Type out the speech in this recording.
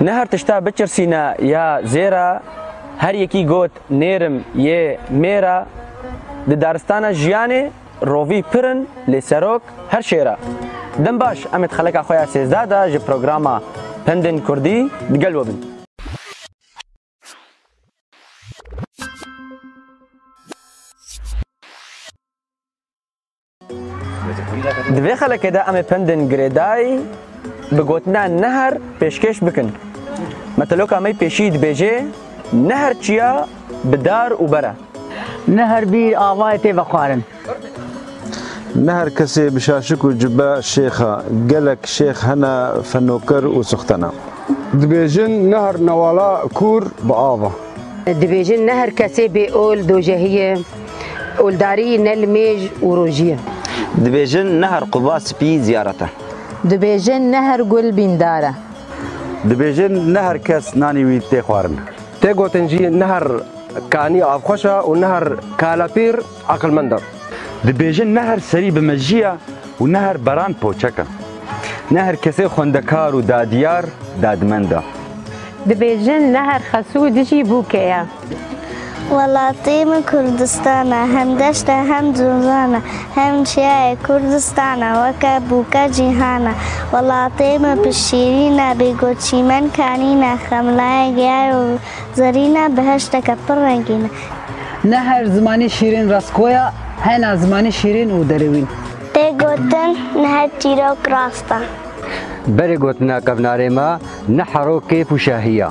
Ne her tişta biçirsîne ya zêra, her yekî got nêrim yê mêra, di daristana jiyanê rovî pir in lê serok her şêra. Dem baş em ê di xeleka xwe ya sêzdeh de ji programa Pendên Kurdî di gel we bin. Di vê xelekê de em ê pendên girêdayî bi gotina neher pêşkêş bikin. Meteloka me pêşî dibêje neher çiya bi dar û ber e. Neher bîr avayê tê vexwarin. Neher kesê bi şaşik û cube şêx e. Gelek şêx hene fenoker û sixten e. Dibêjin neher newala kûr bi av e. Dibêjin neher kesê bêol dojehî ye. Oldarî ne li mêj û rojî ye. Dibêjin ne her quba spî ziyaret e. Dibêjin ne her gul bîndar e. Dibêjin ne her kes nanî wî tê xwarin. Tê gotin jî ne her kanî avxweş e û ne her kalepîr eqilmend e. Dibêjin ne her serî bi mejî ye û ne her beran poçek e. Ne her kesê xwendekar û dadiyar dadmend e. Dibêjin ne her xesûd jî bûke ye. Welatê min Kurdistan e, hem deşt e hem cozan e, hem çiyayê Kurdistan e, weke bûke cîhan e. Welatê min pir şîrîn e, bêgo çîmen kanîn e, xemlayê giyay û zerîn e, beheşteke pir rengîn e. Ne her zimanî şîrîn rastgoya, hena zimanî şîrîn û derewîn. Tê gotin ne her çîrok rast e. Berê gotina kevnarê me ne hero kêf û şahiya.